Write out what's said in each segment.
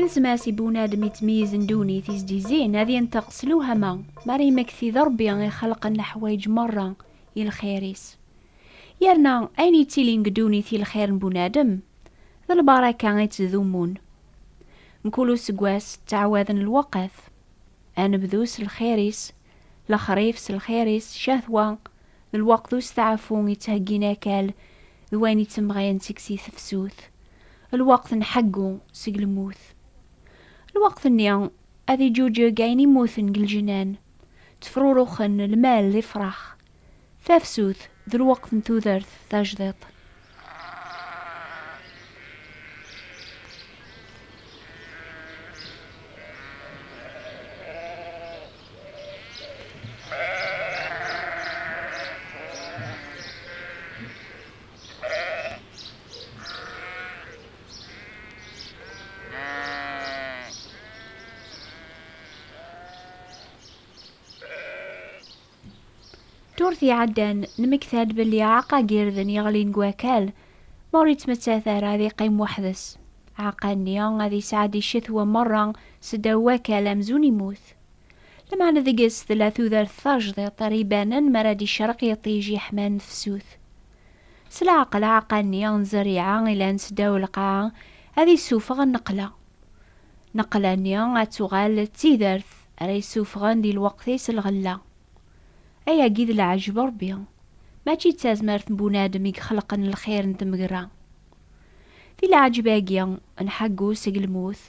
Ilzem-as i bunadem yettmeyyizen ddunit i s-d-yezzin ad yenṭeq s lewhama, mi ara yemmekti d Ṛebbi i xelqen leḥwayeǧ meṛṛa i lxir-is. Yerna ayen yettilin deg ddunit i lxir n bunadem, d lbaṛaka i tt-ḍummun. Mkul useggas ttɛawaden lweqt. Ad nebdu s lxir-is, Lexrif s lxir-is, ccahwa, d lweqt usteɛfu ittheggin akal d wayen ittemɣayen seg-s i tefsut, lweqt n ḥeggu seg lmut. Lweqt-nni, ad iǧuǧeg ayen immuten deg lǧennan, ttefruruxen lmal d ifrax Tafsut d lweqt n tudert tajdiṭ. Ddurt iɛeddan, nemmekta-d belli aɛeqqa n yirden yeɣlin deg wakal, ma ur yettmettat ara ad yeqqim weḥd-s. Aɛeqqa-nni ad yesɛeddi ccetwa merra s ddaw wakal amzun yemmut. Lameɛna deg-s tella tudert tajdiṭ ara ibanen mi ara d-icerreq yiṭij yeḥman tefsut. S leɛqel aɛeqqa-nni n zzerriɛa ilan s ddaw lqaɛa ad issufeɣ nneqla. Nneqla-nni ad tuɣal d tidert. Ara yessufɣen di lweqt-is lɣella. Ayagi d leɛjeb Ṛebbi, mačči d tazmert n bunadem i ixelqen lxir n tmegra. Di leɛjeb-agi n Ḥaggu seg lmut,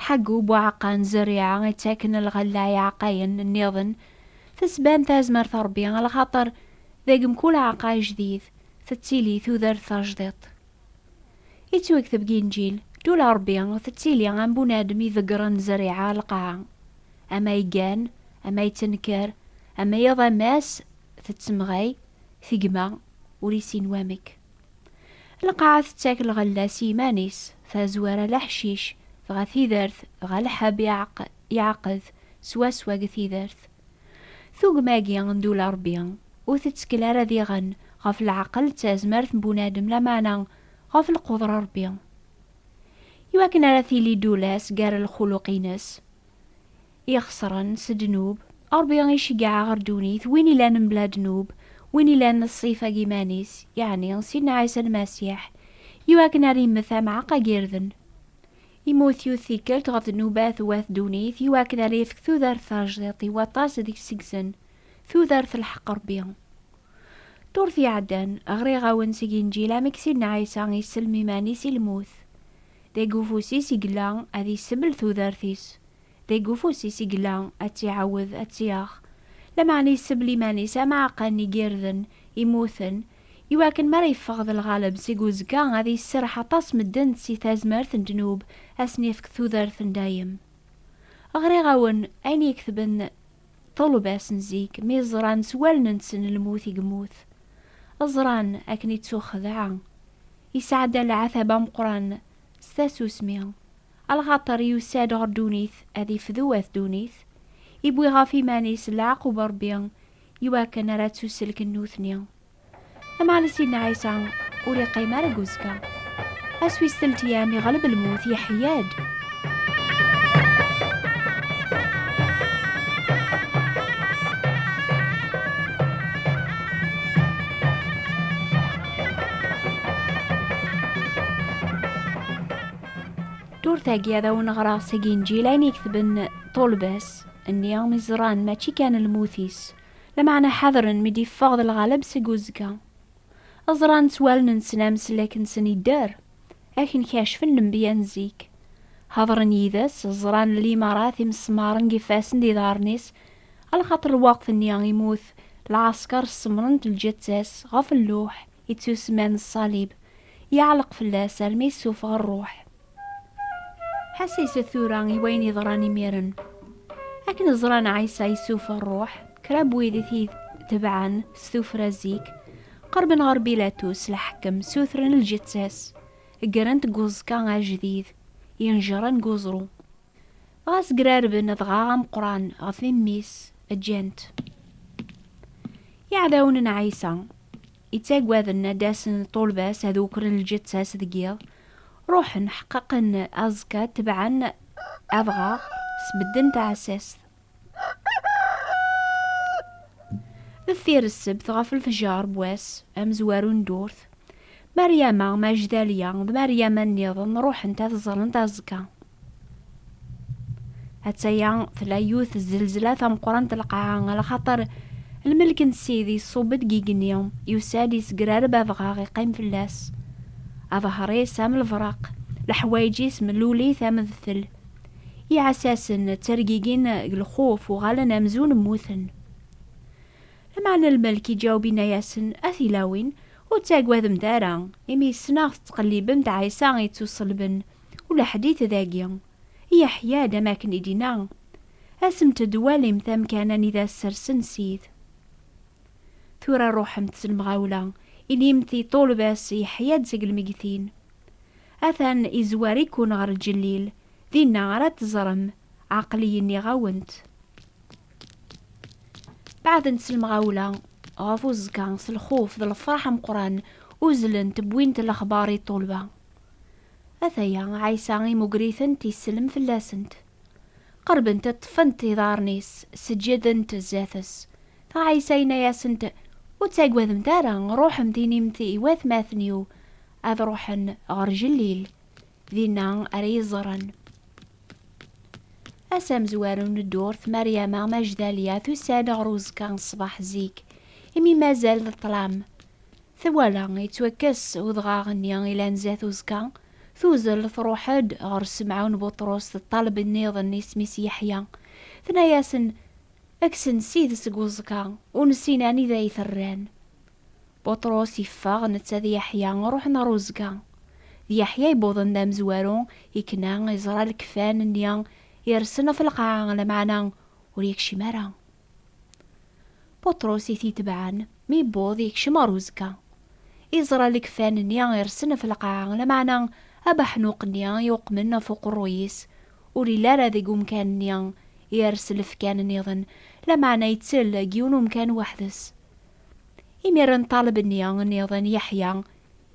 Ḥaggu, Buɛaqa n Zerriɛa ittaken lɣella i iɛeqqayen nniḍen, tettban tazmert Ṛebbi lxaṭer deg mkul aɛeqqay jdid tettili tudert tajdiṭ. Yettwagteb deg Inǧil, Ddula n Ṛebbi tettili am bunadem iḍeggren zzeriɛa lqaɛa. Ama yeggan, ama yettenker, ama iḍ ama ass tettemɣay tegma ur yessin wamek. Lqaɛa tettak lɣella s yiman-is, tazwara d aḥcic, dɣa tidert dɣa lḥeb iɛeqqed swaswa deg tidert. Tugem-agi n Dula Rebbi ur tettkel ara diɣen ɣef leɛqel d tazmert n bunadem lameɛna ɣef lqudra n Rebbi. I wakken ara tili Dula-s gar lxuluq-ines ixesren s ddnub, Rebbi iceggeɛ ɣer ddunit win ilan mebla ddnub, win ilan d ṣṣifa n yiman-is, yeɛni Sidna Ɛisa Lmasiḥ, i wakken ara immet ameɛq agirden. Immut yiwet tikkelt ɣef dnubat d wat ddunit i wakken ara yefk tudert tajdiṭ i waṭas deg seg-sen, tudert n lḥeqq Rebbi. Ddurt iɛeddan, ɣriɣ-awen seg Inǧil amek Sidna Ɛisa isellem iman-is i lmut. Deg ufus-is i yella ad isebl tudert-is. Deg ufus-is i yella, ad tt-iɛawed, ad tt-yaɣ. Lameɛna isebl iman-is am aɛeqqa n igirden immuten, i wakken mi ara yeffeɣ d lɣaleb seg uzekka, ad yesserreḥ aṭas medden si tazmert n ddnub, ad sen-yefk tudert n dayem. Ɣriɣ-awen ayen iketben ṭṭulebas n zik, mi ẓran s wallen-nsen lmut i yemmut. Ẓran akken ittuxedɛa. Isɛedda lɛatab ameqqran s tasusmi. Lxaṭer yusa-d ɣer ddunit ad ifdu at ddunit, iwwi ɣef iman-is leɛqub n Ṛebbi i wakken ara ttuselken nutni. Lameɛna Sidna Ɛisa ur iqqim ara deg uzekka. Ass wis teltya mi ɣleb lmut, yeḥya-d. Turtagi ad awen-ɣreɣ seg Inǧil ayen iktben ṭulbas, nni mi ẓran mačči kan lmut-is, lameɛna ḥadren mi d-iffeɣ d lɣaleb seg uzekka. Ẓran s wallen-nsen ameslak-nsen idder, akken kacfen lembiya n zik. Hadren yid-s, ẓran limarat imesmaren deg ifassen d iḍarren-is, alxaṭer lweqt-nni imut lɛasker ssemren-t lǧetta-s ɣef lluḥ, ittusemman ṣṣalib, yeɛleq fell-as armi yessuffeɣ rruḥ. Ḥasset tura i wayen yeḍran imiren. Akken ẓran Ɛisa yessuffeɣ rruḥ, kra n wid i t-itebɛen s tuffra zik, qerben ɣer Bilatus lḥakem, ssutren lǧetta-s, ggren-t deg uẓekka ajdid, yenjren deg uẓru. Ɣas grarben dɣa ameqqran ɣef mmi-s, ǧǧan-t. Iɛdawen n Ɛisa, ittaggaden ad d-asen ṭṭulba-s ad ukren lǧetta-s deg yiḍ, ruḥen, ḥeqqaqen aẓekka, tebɛen adɣaɣ, sbedden taɛessast. Deffir ssebt ɣef lefjar n wass amezwaru n ddurt, Mariama Majdaliya d Mariama nniḍen ruḥent ad ẓrent azekka. Atta-ya tella yiwet zzelzla tameqqrant n lqaɛa, lxaṭer lmelk n Ssid iṣubb-d deg igenni, yusa-d yesgrareb abɣaɣ iqqim fell-as. Aḍehri-s am lebraq, leḥwayeǧ-is mellulit am dtel. Iɛessasen ttergigin deg lxuf, uɣalen amzun mmuten. Lameɛna lmelk iǧaweb inna-yasen, A tilawin, ur ttagademt ara, imi ssneɣ tettqellibemt Ɛisa ittuṣelben, ula ḥdit dagi. Iḥya-d am akken i d-inna, Asemt-d walimt amkan anida ssersen Sid. Tura ruḥemt s lemɣawla, inimt i ṭṭulba-s yeḥya-d seg lmeggtin. Atan izwar-iken ɣer lǧellil, dinna ara t-teẓrem, aql-iyi nniɣ-awent. Beɛdent s lemɣawla ɣef uẓekka, s lxuf d lefraḥ ameqqran, uzzlent wwint lexbar i ṭṭulba. Ataya Ɛisa imugger-itent isellem fell-asent. Qerbent ṭṭfent iḍarren-is, seǧǧedent zdat-s. Ɛisa yenna-asent, Ur ttagademt ara, ṛuḥemt inimt i watmaten-iw ad ruḥen ɣer Jellil, dinna ara iyi-ẓren. Ass amezwaru n ddurt, Maryama Majdaliya tusa-d ɣer uzekka n ṣṣbeḥ zik, imi mazal d ṭṭlam. Twala yettwakkes udɣaɣ-nni ilan zdat uzekka, tuzel truḥ-d ɣer Semɛun Buṭrus d ṭṭaleb nniḍen isem-is Yeḥya. Tenna-yasen, Kksen sid seg uẓekka, ur nessin anida i t-rran. Buṭrus iffeɣ, netta d Yeḥya ruḥen ɣer uzga. D Yeḥya i wwḍen d amezwaru, ikna, iẓra lekfan nni irsen ɣef lqaɛa, lameɛna ur yekcim ara. Buṭrus i t-itebɛen, mi yewweḍ yekcem ɣer uzga. Iẓra lekfan nni irsen ɣef lqaɛa, lameɛna abeḥnuq nni yuqmen ɣef uqerruy-is ur yelli ara deg umkan nni, ires lefkan nniḍen, lameɛna ittel deg yiwen umkan weḥd-s. Imiren ṭaleb-nni nniḍen Yeḥya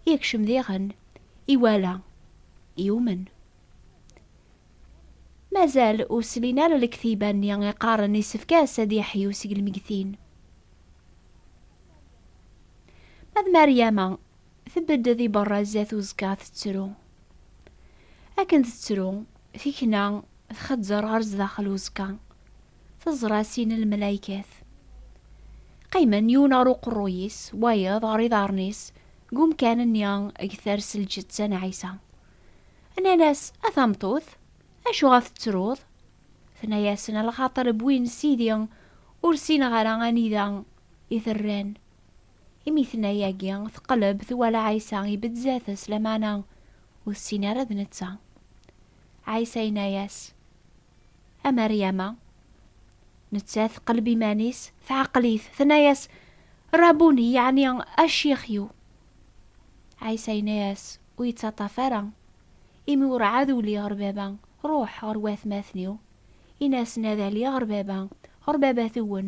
yekcem diɣen, iwala, yumen. Mazal ur slin ara lektiba-nni iqqaren isefk-as ad yeḥyu seg lmegtin. Ma d Maryama, tbedd di berra zdat uzekka tettru. Akken tettru, tikna txeẓẓer ɣer zdaxel uzekka. teẓra sin n lmelaykat. Qqimen yiwen ɣer uqerruy-is, wayeḍ ɣer iḍarren-is, deg umkan-nni eg ters lǧetta n Ɛisa. Nnan-as, A tameṭṭut, acuɣer tettruḍ? Tenna-yasen, A lxaṭer wwin Sidi, ur ssineɣ ara anida i t-rran. Imi tenna yagi, teqleb twala Ɛisa ibedd zdat-s, lameɛna ur tessin ara d netta. Ɛisa yenna-as, A Mariama, nettat teqleb iman-is, tɛeql-it, tenna-yas, Rabuni, yeɛni a ccix-iw. Ɛisa yenna-yas, Ur yettaṭṭaf ara, imi urɛad uliɣ ɣer Baba, ruḥ ɣer watmaten-iw, in-asen ad aliɣ ɣer Baba, ɣer Babat-wen,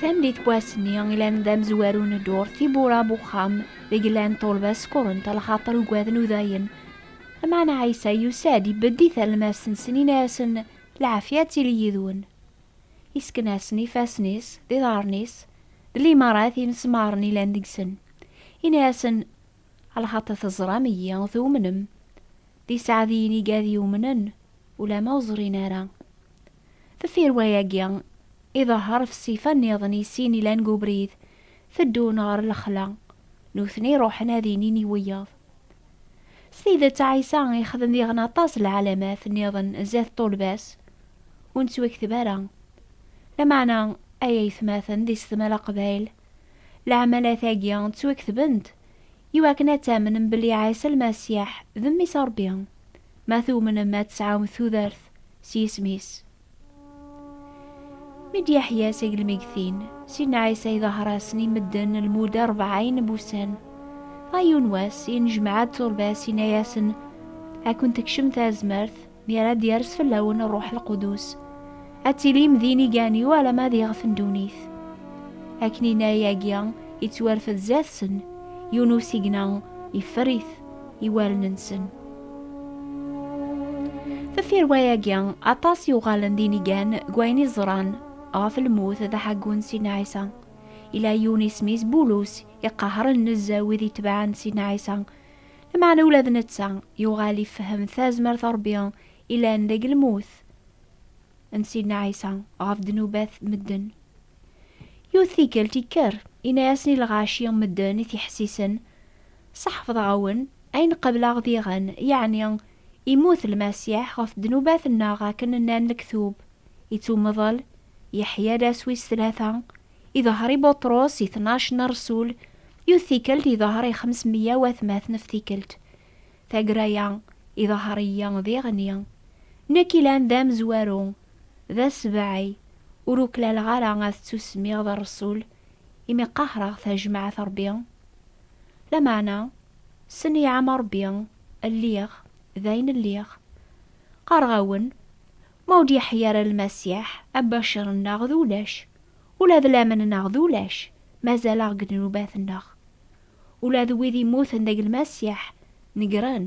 Tamdit n wass-nni i lan d amezwaru n ddurt tiwwura n uxxam deg llan ṭṭulba skurent lxaṭer ugaden udayen. Meɛna Ɛisa yusa-d ibedd i talmast-nsen, inna-asen, Lɛafya ad tili yid-wen. Yesken-asen ifassen-is d iḍarren-is d limarat imesmaren ilan deg-sen. Yenna-asen, Lxaṭi teẓram-iyi, tumnem. D iseɛdiyen i gad yumnen, ulamma ur ẓrin ara. Deffir wayagi, iḍehher f ssifa nniḍen i sin ilan g ubrid, teddun ɣer lexla. Nutni ruḥen ad inin i wiyaḍ. S tidet Ɛisa yexdem diɣen aṭas n lɛalamat nniḍen zdat ṭṭulba-s, ur nettwakteb ara. Lameɛna, ay aytmaten di setmala Aqbayl, lɛamalat-agi ttwaktbent i wakken ad tamnem belli Ɛisa Lmasiḥ d Mmi-s n Ṛebbi, ma tumnem ad tesɛum tudert s yisem-is. Mi d-yaḥya s agelmegtin, Sidna Ɛisa iḍahar-asen i medden lmuda rebɛayen n wussan. Ɣer yiwen wass, yennejmeɛ-d turbas, yenna-yasen, Ad kent-tekcem tazmert, mi ara d-yers fell-awen Ṛṛuḥ Lqudus. Ad tilim d inigan-iw alamma d iɣef n ddunit. Akken yenna-yagi, yettwarfed zdat-sen, yiwen usigna, yeffer-it. iwalen-nsen. Deffir wayagi, aṭas yuɣalen d inigan deg wayen i ẓran ɣef lmut d aḥaggun Sidna Ɛisa. Ila yiwen isem-is Bulus, iqehren nezzeh wid itebɛen Sidna Ɛisa. Lameɛna ula d netta yuɣal ifehhem tazmert n Ṛebbi ilan deg lmut n Sidna Ɛisa ɣef ddnubat n medden. Yiwet tikkelt ikker, yenna-yasen i lɣaci n medden i t-iḥessisen, Sḥefḍeɣ-awen ayen qableɣ diɣen, yeɛni immut Lmasiḥ ɣef ddnubat-nneɣ akken nnan lektub, ittummeḍl, yeḥya d ass wis tlata, iḍher i Buṭrus, i tnac n rresul, yiwet tikkelt iḍher i xemes meyya watmaten f tikkelt. Tagra-ya, iḍher-iyi diɣen-i. Nekk ilan d amezwaru, d asbeɛɛi, ur uklaleɣ ara ad ttusemmiɣ d rresul, imi qahreɣ tajmaɛt Rebbi. Lameɛna, ssneɛ-am a Ṛebbi, lliɣ, d ayen lliɣ. Qqareɣ-awen, ma ur d-yeḥya ara Lmasiḥ, abacir-nneɣ d ulac, ula d laman-nneɣ d ulac, mazal-aɣ deg ddnubat-nneɣ. Ula d wid immuten deg Lmasiḥ, negren,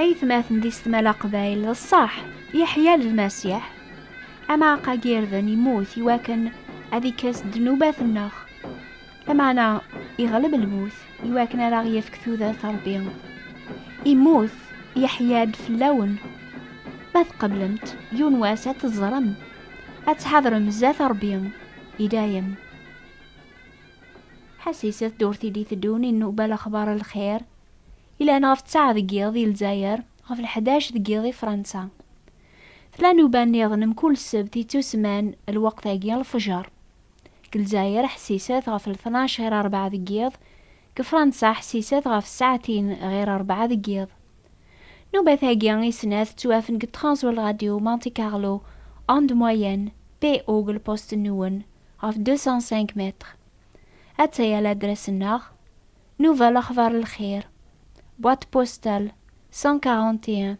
aytmaten di setmala qbayl d ṣṣaḥ yeḥya lmasiḥ amaɛqag irden yemmut iwakken ad ikkes ddnubat-nneɣ Lameɛna iɣleb lmut i wakken ara ɣ-yefk tudert Ṛebbi. Immut Yeḥya-d fell-awen. Ma tqeblemt, yiwen wass ad t-teẓrem, ad tḥadrem zdat Ṛebbi i dayem. Ḥasis ddurt i d-iteddun inuba lexbar n lxir yellan ɣef ttaɛ deg yiḍ i Lezzayer, ɣef lḥdac deg yiḍ i Fransa. Tella nnuba nniḍen mkul ssebt yettusemman lweqt-agi lfejr. deg Lezzayer ḥesset ɣef lṭnac ɣir rebɛa deg yiḍ, deg Fransa ḥesset ɣef ssaɛtin ɣir rebɛa deg yiḍ. Nnubat-agi i snat ttwafen deg Transworld Radio Monte Carlo, onde moyenne, PO deg lpust-nwen, ɣef 205 mètres. Atta-ya ladras-nneɣ, Nnuba Lexbar Lxir, boîte postale 141,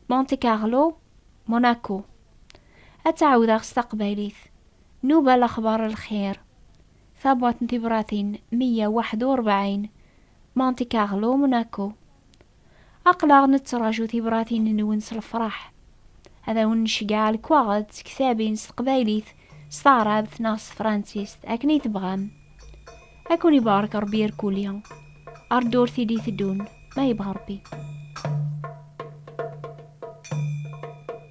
Monte Carlo, Monaco. Ad tt-ɛawdeɣ s taqbaylit. Nuba Lexbar Lxir, Tabwaṭ n Tibratin meyya waḥed u rebɛin, Monte Carlo, Monaco. Aql-aɣ nettraǧu tibratin-nwen s lefraḥ. Ad awen-nceggeɛ lekwaɣeḍ d tektabin s teqbaylit, s taɛrabt neɣ s tefransist, akken ay tebɣam. Ad ken-ibarek Rebbi irkuli. Ar ddurt i d-iteddun, ma yebɣa Rebbi.